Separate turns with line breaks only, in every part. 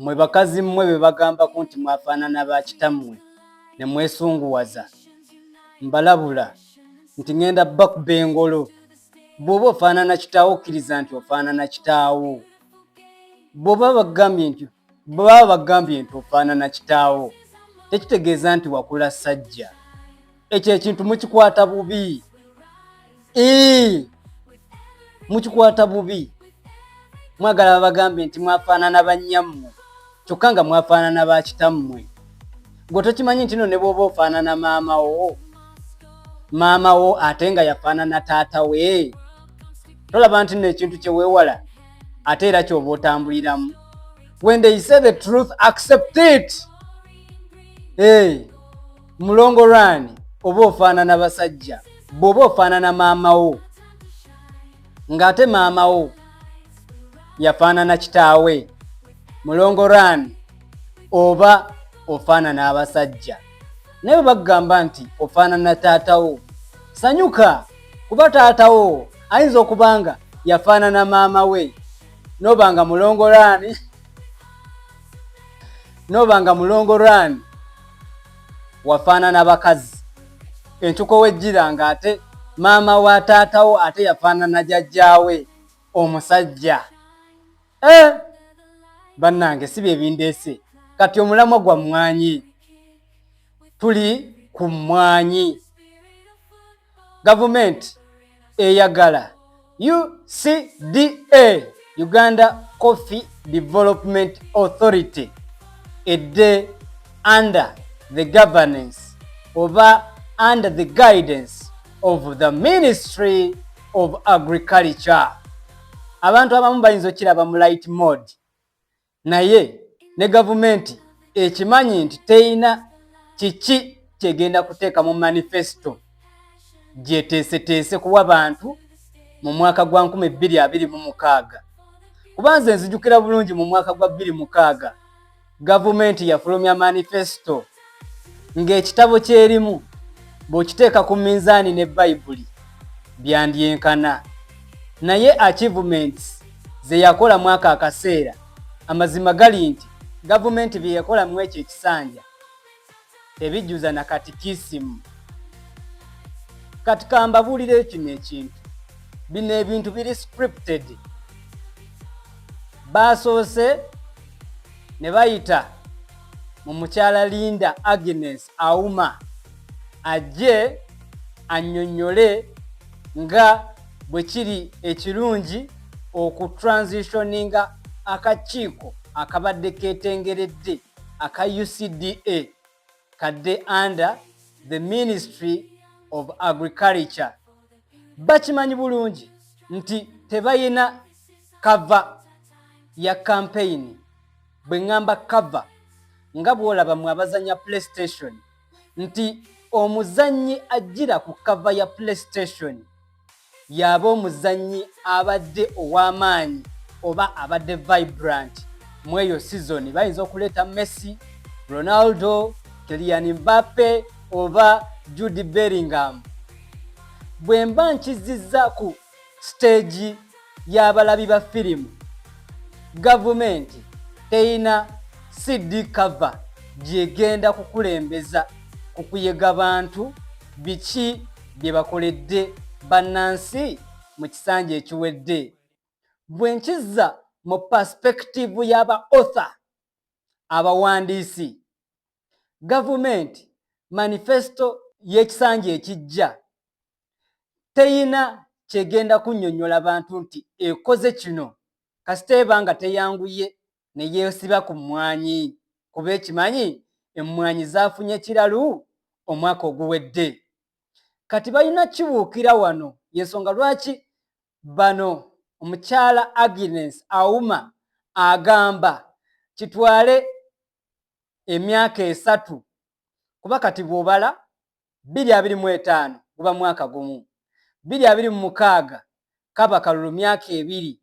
Mmwe bakazi mmwe be bagambako nti mwafaanana ba kitammwe ne mwesunguwaza, mbalabula nti ŋenda bakuba engolo. Bw'oba ofaanana kitaawo okkiriza nti ofaanana kitaawo. Bw'oba bagambye nti baba bagambye nti ofaanana kitaawo tekitegeeza nti wakula ssajja. ekyo ekintu mukikwata bubi mukikwata bubi mwagala babagambe nti mwafaanana bannyammwe kyokka nga mwafaanana ba kitammwe gwe tokimanyi nti no ne bwoba ofaanana maama wo maama wo ate nga yafaanana taata we tolaba nti no ekintu kyeweewala ate era kyoba otambuliramu when they say the truth accept it hey. mulongo rani oba ofaanana basajja bwoba ofaanana maama wo ng'ate maama wo yafaanana kitaawe mulongo rani oba ofaanana abasajja naye bwe bakugamba nti ofaanana taata wo sanyuka kuba taata wo ayinza okuba nga yafaanana maama we noba nga mulongo rani noba nga mulongo rani wafaanana bakazi entuko wejjira nga ate maama wa taatawo ate yafaanana jajjaawe omusajja eh! bannange si bye bindeese kati omulamwa gwa mmwanyi tuli ku mmwanyi gavumenti eyagala ucda uganda coffee development authority edde under the governance oba under the guidance of the ministry of agriculture abantu abamu bayinza okiraba mu light mode naye ne gavumenti ekimanyi nti teyina kiki kyegenda kuteeka mu manifesito gyeteeseteese kuwa bantu mu mwaka gwa 226 kuba nze nzijukira bulungi mu mwaka gwa 26 gavumenti yafulumya manifesito ng'ekitabo ky'erimu bw'okiteeka ku minzaani ne bayibuli byandyenkana naye achievements ze yakola mwaka akaseera amazima gali nti gavumenti bye yakola mu ekyo ekisanja tebijjuza na katikisimu kati kambabuulira ekino ekintu bino ebintu biri scripted baasoose ne bayita mu mukyala Linda Agnes Auma ajje annyonnyole nga bwe kiri ekirungi okutransitioninga akakiiko akabadde ketengeredde aka UCDA kadde under the Ministry of Agriculture. Bakimanyi bulungi nti tebayina kava ya kampeyini. bwe ŋŋamba kava nga bw'olaba mwe abazannya playstation nti omuzannyi ajjira ku kava ya playstation y'aba omuzannyi abadde ow'amaanyi oba abadde vibrant mu eyo sizoni bayinza okuleeta messi ronaldo keliyani mbape oba judi beringham bwe mba nkizizza ku siteegi y'abalabi ba firimu gavumenti teyina CD cover gyegenda kukulembeza ku kuyega bantu biki bye bakoledde bannansi mu kisanja ekiwedde bwe nkizza mu paspekitivu y'aba otha abawandiisi gavumenti manifesito y'ekisanja ekijja teyina kyegenda kunyonyola bantu nti ekoze kino kasita eba nga teyanguye neyesiba ku mmwanyi kuba ekimanyi emmwanyi zafunye kiralu omwaka oguwedde kati balina kibuukira wano yensonga lwaki bano omukyala Agnes Auma agamba kitwale emyaka esatu kuba kati bwobala bbiri abiri mu etaano guba mwaka gumu, bbiri abiri mu mukaaga kaba kalulu myaka ebiri,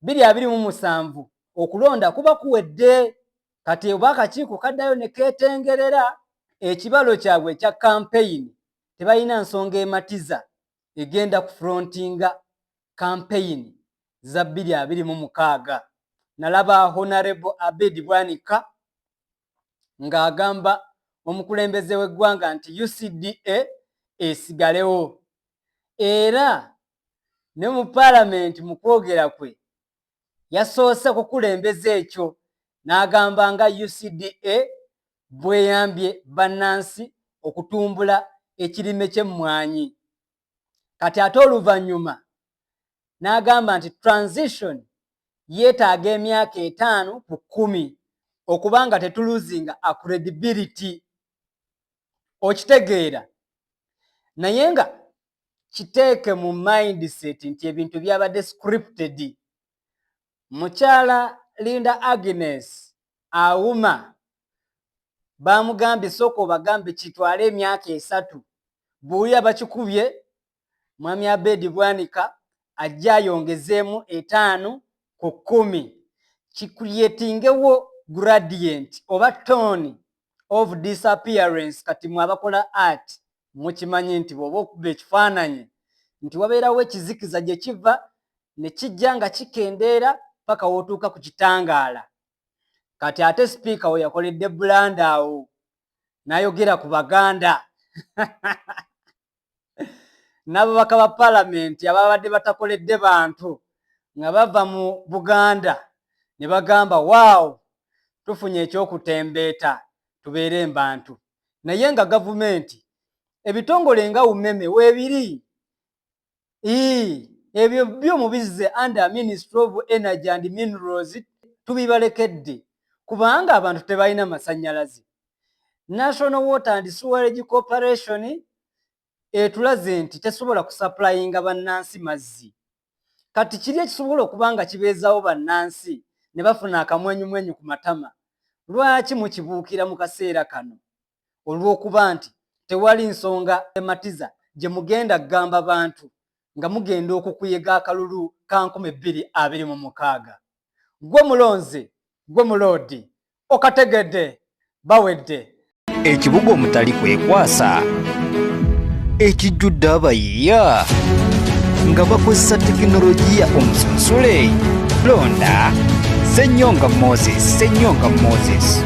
bbiri abiri mu musanvu okulonda kuba kuwedde. Kati oba akakiiko kaddayo ne keetengerera ekibalo kyabwe ekya kampeyini, tebalina nsonga ematiza egenda ku frontinga kampeyini za bbiri abiri mu mukaaga. Nalaba Honarebo Abed Bwanika. ng'agamba omukulembeze w'eggwanga nti UCDA esigalewo era ne mu paalamenti mu kwogera kwe yasoose kukulembeza ekyo n'agamba nga UCDA bweyambye bannansi okutumbula ekirime ky'emmwanyi kati ate oluvannyuma n'agamba nti transition yeetaaga emyaka etaano ku kkumi okuba nga tetuluzinga acredibility okitegeera naye nga kiteeke mu mindset nti ebintu byabadde scripted mukyala linda agnes awuma baamugambye sooka obagambe kitwala emyaka esatu buuya bakikubye mwami abeedi bwanika ajja ayongezeemu etaano ku kkumi kikuriyetingewo gradient oba tone of disappearance kati mwe abakola art mukimanyi nti bwoba okuba ekifaananyi nti wabeerawo ekizikiza gye kiva ne kijja nga kikendeera paka wootuuka ku kitangaala kati ate sipiika we yakoledde bulanda awo nayogera ku baganda n'ababaka ba palamenti ababadde batakoledde bantu nga bava mu buganda ne bagamba waawo tufunye ekyokutembeeta tubeere mbantu naye nga gavumenti ebitongole nga umeme weebiri ii ebyo byo mubizze under ministry of energy and minerals tubibalekedde kubanga abantu tebalina masanyalaze national water and sewerage corporation etulaze nti tesobola kusupplyinga bannansi mazzi kati kiri ekisobola okuba nga kibeezawo bannansi ne bafuna akamwenyumwenyu ku matama lwaki mukibuukira mu kaseera kano olw'okuba nti tewali nsonga ematiza gye mugenda kugamba bantu nga mugenda okukuyega akalulu ka nkumi bbiri abiri mu mukaaga gwe mulonzi gwe muloodi okategedde bawedde ekibuga
omutali kwekwasa ekijjudde abayi Yeah. nga bakozesa tekinologiya omusunsule londa senyonga moses senyonga moses